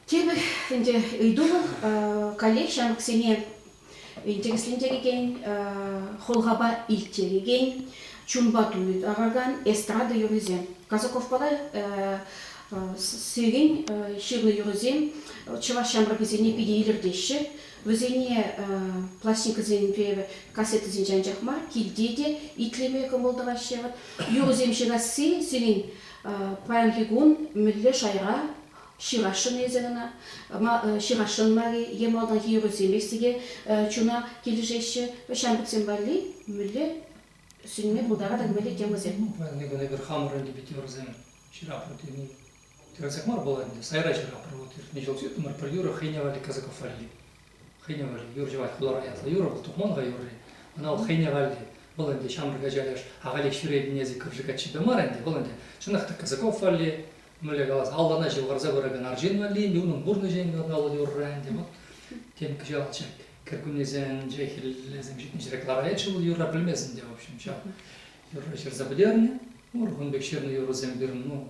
Тепӗр ӗнтӗ ыйту вӑл коллег ҫамрӑксене интереслентерекен, хӑлхапа илттерекен, чунпа туйтаракан эстрада юррисем. Казаковпала сирен ҫырнӑ юрӑсем чӑваш ҫамрӑкӗсене питӗ илӗртеҫҫӗ. Вӗсене пластинкӑсемпе кассетӑсенче анчах мар, килте те итлеме кӑмӑл тӑваҫҫӗ. Юрӑсем ҫырасси сирӗн паянхи кун мӗнле шайра ҫырасшӑн эсӗ кӑна? Ҫырасшӑн мар-и е малтанхи юрӑсемех те чуна килӗшеҫҫӗ? Ҫамрӑксем валли мӗнле сӳнме пултаратӑр, мӗнле темӑсем? Ну, паян эпӗ хамӑрӑн те пит юрӑсем ҫыратпӑр тени Кансӗр мар пулать ӗнтӗ, сайра ҫыхрӑмӑр. Вот иртнӗ ҫул ҫыхрӑмӑр пӗр юрӑ хӑйне валли кӑсӑков валли. Хӑйне валли юр ҫӑвать хулара ятлӑ юрӑ, вӑл тухман-ха юрри. Ӑна вӑл хӑйне валли. Вӑл ӗнтӗ ҫамрӑк ача леш, ахалех ҫӳрет незиков-ши каччипе мар ӗнтӗ, вӑл ӗнтӗ чӑнах та кӑсӑков валли, мӗнле калас, аллана ҫывхарса пыракан арҫын валли ӗнтӗ, унӑн пурнӑҫӗ ҫӑнкӑравлӑ юрра ӗнтӗ. Вот тем кӑҫал ҫак кӗркуннесем, ҫак хӗллесем ҫитнӗ ҫӗре кӑлараятчӗ вӑл юрра пӗлмесен те, в общем, ҫав юрра ҫырса пӗтернӗ. Урхун пек ҫырнӑ юрӑсем пирӗн, ну,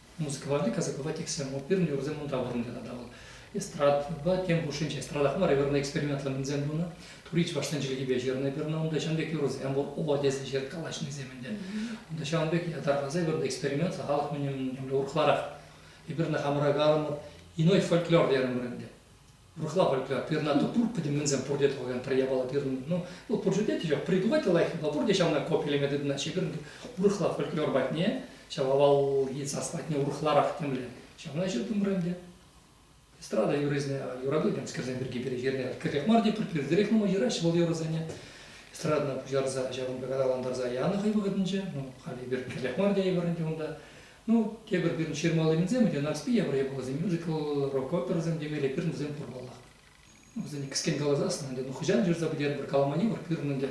музыкӑланни кӑсӑклӑ текстсем пирӗн юрӑсем унта вырӑнли тата вӑл эстрадӑпа тем хушшинче эстрадах мар вырӑнлӑ экспериментлӑ ӗнсем тунӑ тури чӑвашсен чӗлхипе ҫырнӑ пирӗн унта ҫын пек юрӑсем пур оба тесе ҫыр калаҫнисем ӗнтӗ унта ҫавӑн пек ятарласа вырӑнлӑ эксперимент халӑх мӗн урӑхларах эпир ӑна хамӑра калӑмӑр иной фольклор терӗмӗр ӗнтӗ Урӑхла пуль, пернату пур пӗтӗмленсем пурте тӑвакан пӗр япала перни. Ну, вӑл пурте те тӗҫех придумать лайӑх, но пурте ҫавна копилеме тытӑнаҫҫӗ. Эпир урӑхла фольклор патне, ҫав авалхи сас патне урӑхларах темле ҫавна ҫыртӑмӑр ӗнтӗ. Эстрада юррисене юрату-темскерсем пирки перехерне кӗрех мар те пӗлтерех нумай юраҫҫӗ вӑл юрӑсене. Эстрадӑна пуҫтарса ҫавӑнпа каталантарса янӑ хӑй вӑхӑтӗнче. Ну, халӗ эпир кӗрех мар тейӗпӗр ӗнтӗ унта. Ну, тепӗр кун ҫырмалли кунсем ӗнтӗ Нарспи Явра япаласем, мюзикл, рок-оперӑсем темелле пирӗн вӗсем пур паллах. Вӗсене кӗскен каласассӑн ӗнтӗ, ну хӑҫан ҫырса пӗтерпӗр, калмани пур пирӗн ӗнтӗ.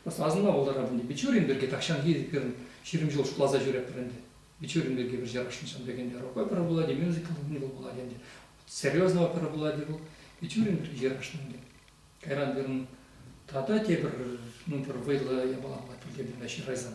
Просто асӑнма пултарап ӗнтӗ. Бичурин пирки тахҫанхи пирӗн ҫирӗм ҫул шутласа ҫӳреппӗр ӗнтӗ. Бичурин пирки пӗр ҫырашнӑ ҫын пек ӗнтӗ. Рок-опера пулать-и, мюзикл пулать ӗнтӗ. Серьезно опера пулать-и вӑл. Бичурин пирки ҫырашнӑ ӗнтӗ. Кайран пирӗн тата тепӗр, ну, пӗр вӑйлӑ япалапа пӗлтертӗм та ҫырайсан.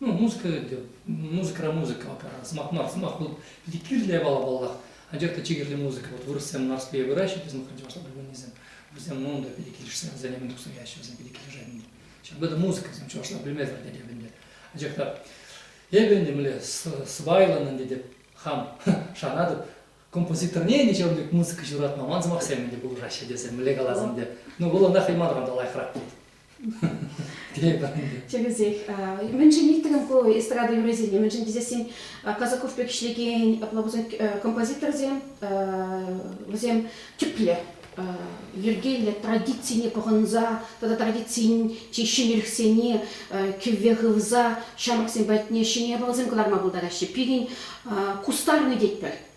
Ну, музыка, музыкӑра музыка опера, сӑмах мар, сӑмах вот питӗ кирлӗ япала паллах. Анчах та чи кирли музыка. Вот вырӑссем Нарспие выраҫҫӗ, biz мы хотим, чтобы мы не знаю, вырӑссем ну да питӗ килӗшсе, за ними дух стоящие, вӗсем питӗ килӗшет ӗнтӗ. Ҫакӑн это музыка, всем чӑваш белмезер тетӗп ӗнтӗ. Анчах та эпӗ ӗнтӗ мӗнле сӑпайлӑн ӗнтӗ те хам шанатӑп, композиторне ничем те музыка ҫуратма ман сӑмахсем ӗнтӗ пулӑшаҫҫӗ тесе мӗнле калас ӗнтӗ. Ну, вӑл ӑна хӑй манран та лайӑхрах тет. Чӗкӗсех. Мӗншӗн ирттерем ку эстрада юррисене? Мӗншӗн тесен Казаков пек ӗҫлекен пловусен композиторсем вӗсем тӗплӗ йӗркеллӗ традицине пӑхӑнса тата традицин чи ҫӗнӗлӗхсене кӗвве хывса ҫамрӑксем патне ҫӗнӗ япаласем кӑларма пултараҫҫӗ. Пирӗн кустарнӑй тетпӗр.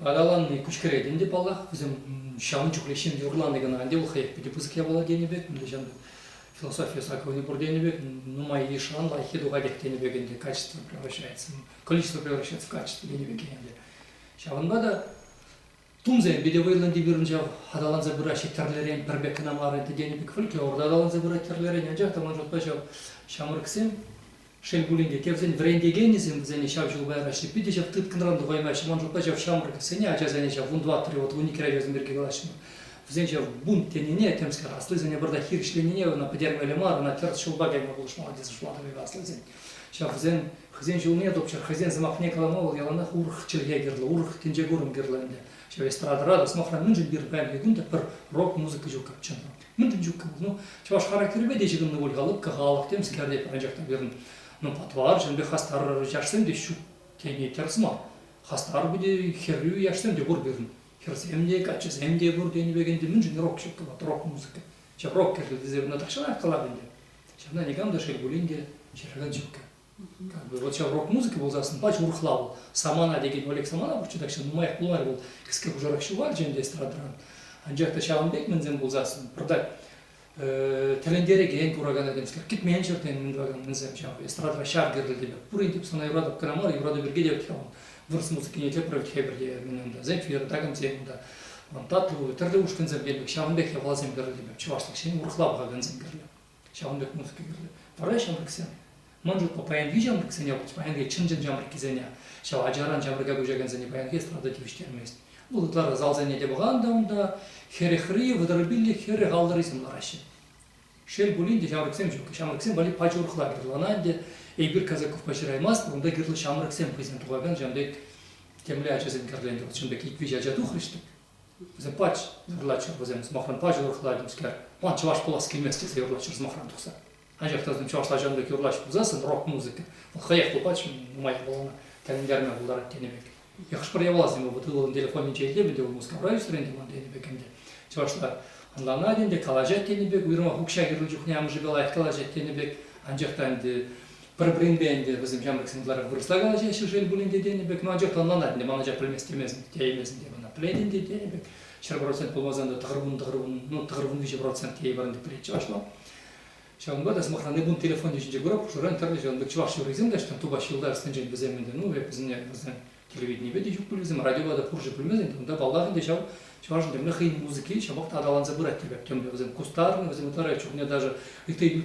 Араланни куҫкӗретӗн те паллах. Вӗсем ҫавӑн чухлех ҫын юрлани кӑна. Ӗнтӗ вӑл хӑех питӗ пысӑк япала тенӗ пек, нихӑҫан та философия саккунӗ пур тенӗ пек, нумай йышран лайӑххи тухатех тенӗ пек ӗнтӗ качество превращается, количество превращается в качество тенӗ пек ӗнтӗ. Ҫавӑнпа та тумсем питӗ вӑйлӑ пирӗн ҫав аталанса пыраҫҫӗ тӗрлӗрен, пӗр пек кӑна мар ӗнтӗ тенӗ пек фольклор аталанса пырать тӗрлӗрен, анчах та ман шутпа ҫав ҫамрӑксем Шел пулин те, тевсен вӗрентекенӗсем вӗсене ҫав ҫул каяраҫҫӗ. Питӗ ҫав тыткӑнран тухаймаҫҫӗ. Ман шутпа ҫав ҫамрӑксене, ачасене ҫав вун тӑваттӑри, вӑт вун иккӗри ачасем пирки калаҫҫӗ. Вӗсен ҫав бунт тенине, темскер, аслисене пӑртак хирӗҫленине ӑна пӗтермелле мар, ӑна тӗрӗс ҫулпа кайма пулӑшмалла тесе шутлатӑп аслисен. Ҫав вӗсен хӑйсен ҫулне тупчӑр, хӑйсен сӑмахне калама вӑл яланах урӑх чӗлхе кирлӗ, урӑх тӗнче курӑм кирлӗ ӗнтӗ. Ҫав эстрадӑра та, сӑмахран, мӗншӗн пир паянхи кун та пӗр рок-музыка ҫук чӑн та. Мӗншӗн чуккӑн? Ну, чӑваш характерӗпе те ҫыхӑннӑ пуль-ха лӑпкӑ халӑх темскер те пӗр анчах та пирӗн ну, патварҫӑн пек хастар яшсем те ҫук тени тӗрӗс мар. Хастар те хӗрӳ яшсем те пур пирӗн. Хӗрсем те, каччӑсем те пур тенӗ пек ӗнтӗ. Мӗншӗн рок ҫук кӑват, рок-музыка? Ҫав рок кӗрлӗ тесе кӑна тахҫанах калап ӗнтӗ. Ҫавна никам та шел пулин те ҫыракан ҫук. вот ҫав рок-музыка пулсассӑн пач урӑхла вӑл. Самана текен Олег Саманов чутакҫа нумаях пулмарӗ вӑл кӗске хушӑрах ҫухалчӗ ӗнтӗ эстрадӑран. Анчах та ҫавӑн пек мӗнсем пулсассӑн пӑртак тӗлӗнтерекен кураканакенскер кӗтмен ҫӗртен мӗн тӑвакан мӗнсем ҫав эстрадӑра ҫав кирлӗ те пурин тӗп сана юратӑп кӑна мар юрату пирки те вӗт-ха вырӑс музыкине тепре вӗт хепӗр те мӗн унта зефир такамсем унта тӗрлӗ ушкӑнсем кирлӗ ҫавӑн пек япаласем кирлӗ чӑвашлӑх ҫӗн урӑхла пӑхакансем кирлӗ ҫавӑн пек музыка кирлӗ. Вара ҫамрӑксем, мӑн чухлӗ паянхи ҫамрӑксене, паянхи чӑн-чӑн ҫамрӑккисене, ҫав ачаран ҫамрӑка куҫакансене паянхи эстрада тивӗҫтермест. Вӑл ытларах залсене те пӑхантӑм та, хӗрӗхри, вӑтӑрпиллӗ хӗрӗх аллӑрисем лараҫҫӗ. Шел пулин те, ҫамрӑксем ҫук. Ҫамрӑксем валли пач урӑхла кӑтартӑланӑ ӗнтӗ. Эпир Казаковпа ҫыраймастпӑр, унта кирлӗ ҫамрӑксем хӑйсем тухакан ҫавӑн пек темле ачасем кӗрленӗ. Вӑл чӑн пек ик-виҫӗ ача тухрӗҫ-тӗк, Запач юрлатчӗ вӗсем сӑмахран пачӗ урӑхла темскер. Ман чӑваш пулас килмест тесе юрлатчӗ сӑмахран тухса. Анчах та вӗсем чӑвашла ҫавӑн пек юрлаҫ пулсассӑн рок-музыка вӑл хӑех пулать нумай япалана тӗлӗнтерме пултарать тенӗ пек. Хӑш-пӗр япаласем эпӗ ывӑлӑн телефонӗнче илтӗм ӗнтӗ, вӑл Мускавра ӳсрӗ ӗнтӗ ман тенӗ пек ӗнтӗ. Чӑвашла ӑнланать ӗнтӗ, калаҫать тенӗ пек, уйрӑмах укҫа кирлӗ чухне амӑшӗпе лайӑх калаҫать тенӗ пек. Анчах та ӗнтӗ Пӗр-пӗринпе ӗнтӗ вӗсем ҫамрӑксен ытларах вырӑсла калаҫаҫҫӗ шел пулин те тенӗ пек, ну анчах та ӑнланать ӗнтӗ, ман ача пӗлмест темесӗн тееймесӗн те мана, пӗлетӗн те тенӗ пек. Ҫӗр процент пулмасан та тӑхӑрвун тӑхӑрвун, ну тӑхӑрвун виҫӗ процент тейвӑрӑн тӗк пӗлетчӗ ӑҫла. Ҫавӑнпа та, сӑмахран, эпун телефонӗ ҫинче курап, хушӑран тӗрлӗ ҫавӑн пек чӑваш юррисем те ӑҫтан тупаҫҫӗ юлташсенчен вӗсем ӗнтӗ, ну эп вӗсене вӗсен телевиденипе те ҫук пуль вӗсем, радиопа та пурҫӑ пӗлмесен те, унта паллах ӗнтӗ ҫав чӑвашӑн темле хӑйӗн музыки ҫапах та аталанса пырать те пек темле, вӗсем кустарнӑ, вӗсем ытларах чухне даже ытти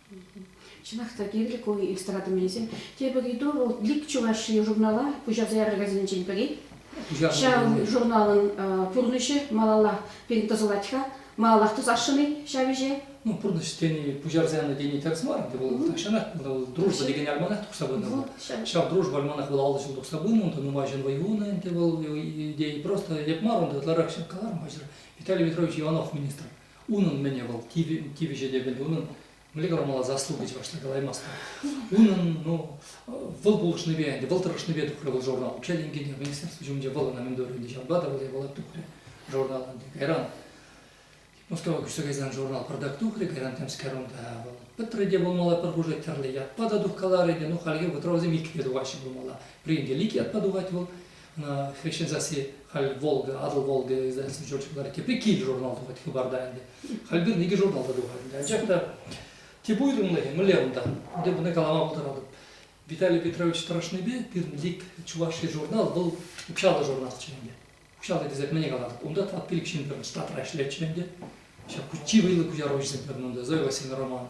Чӑнах та кирлӗ ку иллюстратор мелӗсем. Тепӗр ыйту вӑл Лик Чувашии журнала пуҫарса яракансенчен пӗри. Ҫав журналӑн пурнӑҫӗ малалла пирӗн тӑсӑлать-ха. Малаллах тӑсасшӑн-и ҫав ӗҫе? Ну, пурнӑҫ тени, пуҫарса янӑ тени тӗрӗс мар ӗнтӗ. Вӑл тахҫанах вӑл дружба текен альманах тухса пынӑ. Ҫав дружба альманах вӑл аллӑ ҫул тухса пынӑ, унта нумай ҫын вӑй хунӑ ӗнтӗ вӑл идея. Просто эп мар, унта ытларах ҫын каларӑм, паҫӑр Виталий Петрович Иванов министр. Унӑн мӗне вӑл тивӗҫӗ те пӗлнӗ унӑн мӗнле кӑрмалла заслуга чӑвашла калаймастӑн. Унӑн ну вӑл пулӑшнипе ӗнтӗ вӑл тӑрӑшнипе тухрӗ вӑл журнал укҫа тенкине министерство ҫумӗнче вӑл ӑна мӗн турӗ ӗнтӗ ҫавӑнпа та вӑл евала тухрӗ журнал ӗнтӗ кайран Мускава куҫса кайсан журнал пӑртак тухрӗ кайран темскер унта вӑл пӗтрӗ те пулмалла пӗр хушӑ тӗрлӗ ятпа та тухкаларӗ те ну хальхи вӑтровсем иккӗ те тухаҫҫӗ пулмалла пӗринче икӗ ятпа тухать вӑл хресчен сасси халь Волга, Атӑл Волга издательство Чёрчил вара тепре кил журнал тухать хыпарта ӗнтӗ. Халь пирӗн икӗ журнал та тухать ӗнтӗ. Анчах та тӗп уйрӑмлӑхӗ мӗнле унта? Ӗнтӗ мана калама пултаратӑп. Виталий Петрович тӑрӑшнипе пирӗн ик чувашский журнал вӑл укҫаллӑ журналччӗ ӗнтӗ. Укҫаллӑ тесе мӗне калатӑп? Унта тӑват пилӗк ҫын пирӗн штатра ӗҫлетчӗ ӗнтӗ. Ҫак чи вӑйлӑ куҫаруҫӑсем пирӗн унта Зоя Васильевна Романова.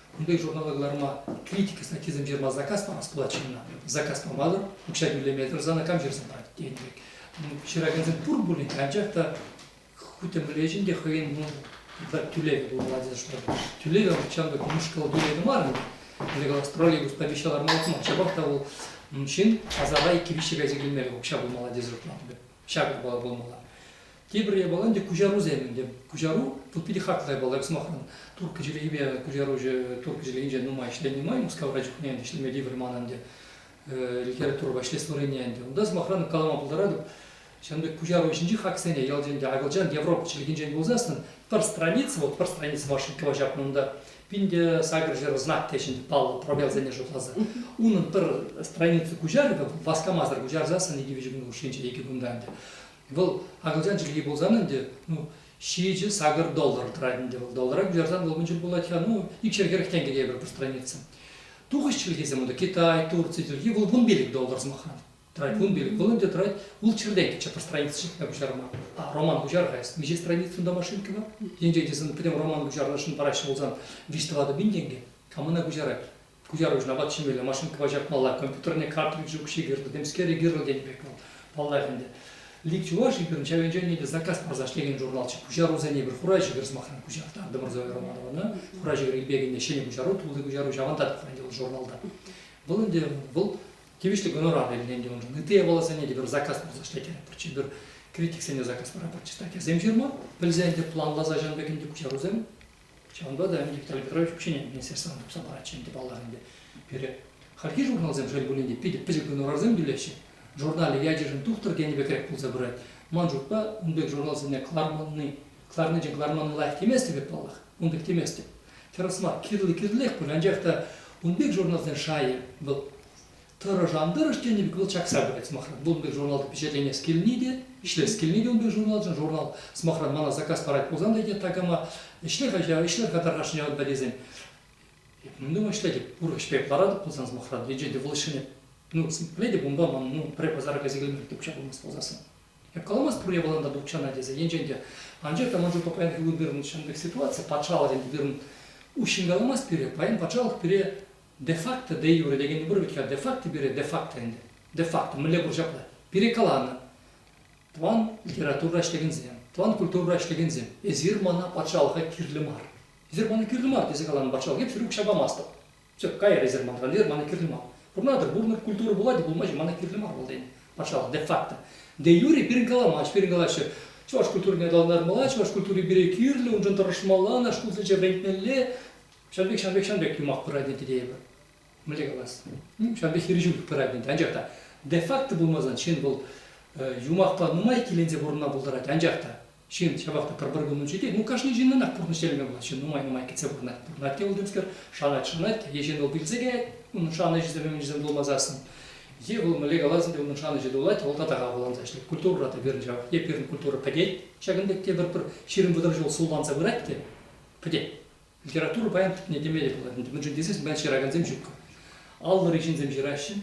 Кунти журнала кӑларма критика статйисем ҫырма заказ памас пулать ҫынна. Заказ памасӑр укҫа тӳлеме тӑрсан кам ҫырса парать тен пек. Ҫыракансем пур пулин, анчах та хуть те мӗнле ӗҫӗн те хӑйӗн ну, тӳлевӗ пулмалла тесе шутлатӑп. Тӳлевӗ ҫамрӑк мӑшкӑл тӳлевӗ мар ӗнтӗ. Лекалах троллейбус помеща ларма утман. Ҫапах та вӑл ҫын асара иккӗ-виҫҫе кайса килмелле укҫа пулмалла тесе шутлатӑп эп. ҫак япала пулмалла. Тепӗр япала ӗнтӗ куҫарусем ӗнтӗ. Куҫару тут питӗ хартлӑ япала, як сӑмахран. Турккӑ чӗлхипе куҫаруҫӑ турккӑ чӗлхинче нумай ӗҫленӗ май Мускавра чухне ӗнтӗ ӗҫлеме тивӗр манӑн ӗнтӗ литературӑпа ӗҫлес ӗнтӗ. Унта, сӑмахран, калама пултаратӑп, ҫавӑн пек куҫару ӗҫӗнчи хаксене ялти ӗнтӗ акӑлчан, европа чӗлхинчен пулсассӑн пӗр страница, вот пӗр страница вашенького ҫапнӑ унта, Пин те сакӑр ҫӗр знак те ҫӗнӗ паллӑ пробелсене шутласа унӑн пӗр страница куҫарӑвӗ васкамасӑр куҫарсассӑн икӗ виҫӗ кун хушшинче икӗ кунтан ӗнтӗ вӑл акӑлчан чӗлхи пулсан ӗнтӗ ну ҫичӗ сакӑр доллар тӑрать ӗнтӗ вӑл доллара куҫарсан вӑл мӗн чуль пулать-ха ну икшер хӗрӗх тенкӗ тейӗпӗр пӗр страница тухӑҫ чӗлхисем унта китай турци тӳрки вӑл вун пилӗк доллар сӑмахран Тӑрать. Вун пилӗк вӑлӑт те тӑрать. Ул чӗртетчӗ пӗр страницӑчӗ пуҫарма. А, роман пуҫар-ха эс. Миҫе страница унта машинкӑпа? Енчен тесен пӗтӗм роман пуҫарнӑшӑн параҫҫӗ пулсан виҫ-тӑватӑ пин тенкӗ. Кам ӑна куҫарать? Куҫаруҫӑн апат ҫимелле машинкӑпа ҫакмалла, компьютерне картриджӗ укҫи кирлӗ, темскер икӗ-ырл тенӗ пек вӑл, паллах ӗнтӗ. Лик чуваш эпир ҫав енчен те заказ парса ӗҫлекен журналччӗ. Пуҫарусене эпир хура ҫӗкӗр, сӑмахран, куҫаҫтартӑмӑр Зоя Романована. Хура ҫӗкӗр Ильпекӗнне ҫӗнӗ куҫару, тулли куҫару, ҫавӑнта та хурать вӑл журналта. Вӑл ӗнтӗ, вӑл тивӗҫлӗ гонорар илнӗ уншӑн ытти япаласене тепӗр заказ пырса ӗҫлет пӗрчи пӗр критиксене заказ параппӑр читательсем ҫырма пӗлсе ӗнтӗ планласа ҫавӑн пек ӗнтӗ куҫарусем ҫавӑнпа та ӗнтӗ Виталий Петрович вообще министерствӑна тухса паратчӗ ӗнтӗ паллах ӗнтӗ пире хальхи журналсем шел пулин те питӗ пӗчӗк гонорарсем тӳлеҫҫӗ журнале ячӗшӗн тухтӑр тенӗ пекрех пулса пырать ман шутпа ун пек журналсене кӑларманни кӑларнинчен кӑларманни лайӑх темест пек паллах ун пек теместӗп. Тӗрӗс мар, кирлӗ-кирлех пуль, анчах та ун пек журналсен шайӗ вӑл тӑрӑш ан тӑрӑш тенӗ пек вӑл чакса пырать сӑмахран. Вӑл ун пек журналта пичетленес килни те, ӗҫлес килни те ун пек журналшӑн. Журнал, сӑмахран, мана заказ парать пулсан та тет такама, ӗҫлер-ха ҫав, ӗҫлер-ха тархасшӑн ҫавӑнпа тесен. Эп ну, думаю, ӗҫлетӗп, урӑх ӗҫпе ларатӑп пулсан, сӑмахран, енчен те вӑл ӗҫлеме, ну, пӗлетӗп, унпа ман, ну, пӗрре пасара кайса килме те укҫа пулмасть пулсассӑн. Эп каламасть пур япалан та тукчана тесе. Енчен те, анчах та ман чухне паян пирӗн вырӑн чӑн пек ситуаци, патшалӑх тенӗ вырӑн уҫҫӑн каламасть пире. Паян патшалӑх пире де-факто де юре текенни пур вӗт-ха. Де-факто пире де-факто ӗнтӗ. Де-факто мӗнле пур ҫапла. Пире каланӑ тӑван литературӑра ӗҫлекенсем, тӑван культурӑра ӗҫлекенсем, эсир мана патшалӑха кирлӗ мар. Эсир мана кирлӗ мар тесе каланӑ патшалӑх, эп сире укҫа памастӑп. Тӗп кайӑк резерв ман халӗ мана кирлӗ мар. Пурӑнатӑр, пурӑнӑр, культура пулать, пулма ҫук, мана кирлӗ мар вӑл тен, патшалӑх, де-факто. Де юре пирӗн каламасть, пирӗн калаҫҫӗ, чӑваш культурине аталантармалла, чӑваш культури пире кирлӗ, уншӑн тӑрӑшмалла, наш шкул сӗчӗ вӗрентмелле. Ҫавӑн пек, ҫавӑн пек, ҫавӑн пек юмах пырать ӗнтӗ тейӗпӗр. Мӗнле калас? Ҫавӑн пек хирӗҫӳлӗх пырать ӗнтӗ. Анчах та де-факто пулмасан ҫын вӑл юмахпа нумай иккӗленсе пурӑнма пултарать, анчах та Ҫын ҫапах та пӗр-пӗр кун учетет. Ну, кашни ҫыннӑнах пурнӑҫ тӗлне пулать. Ҫын нумай-нумай кӗтсе пурӑнать. Пурӑнать те вӑл темскер, шанать, шанать. Е ҫын вӑл пӳлсе каять, унӑн шанӑҫӗсем, ӗмӗчӗсем тулмаса сасӑн. Е вӑл мӗнле каласан те унӑн шанӑҫӗ тулать, вӑл татаха апатланса ӗҫлет. Культурӑра та пирӗн ҫав. Е пирӗн культура пӗтет. Ҫакӑн пек те пӗр-пӗр ҫирӗм вӑтӑр ҫул сулланса пырать те пӗтет. Литература паян тӗпне теме те пулать. Мӗншӗн тесен ман ҫыракансем ҫук. Аллӑри ҫынсем ҫыраҫҫӗ.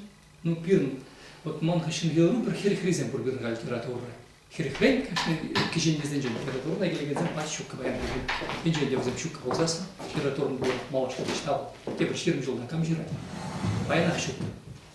Ну, пирӗн, вот ман хыҫҫӑн юлнӑ пӗр хӗрӗхрисем пур пирӗн-ха литературӑра. Хӗрӗхрен, кашни кӗҫӗннисенчен литературӑна килекенсем пач ҫуккӑ паян пирӗн. Енчен те вӗсем ҫуккӑ пулсассӑн, литературӑн пур малашне те ҫав. Тепӗр ҫирӗм ҫулта кам ҫырать? Паянах ҫуккӑ.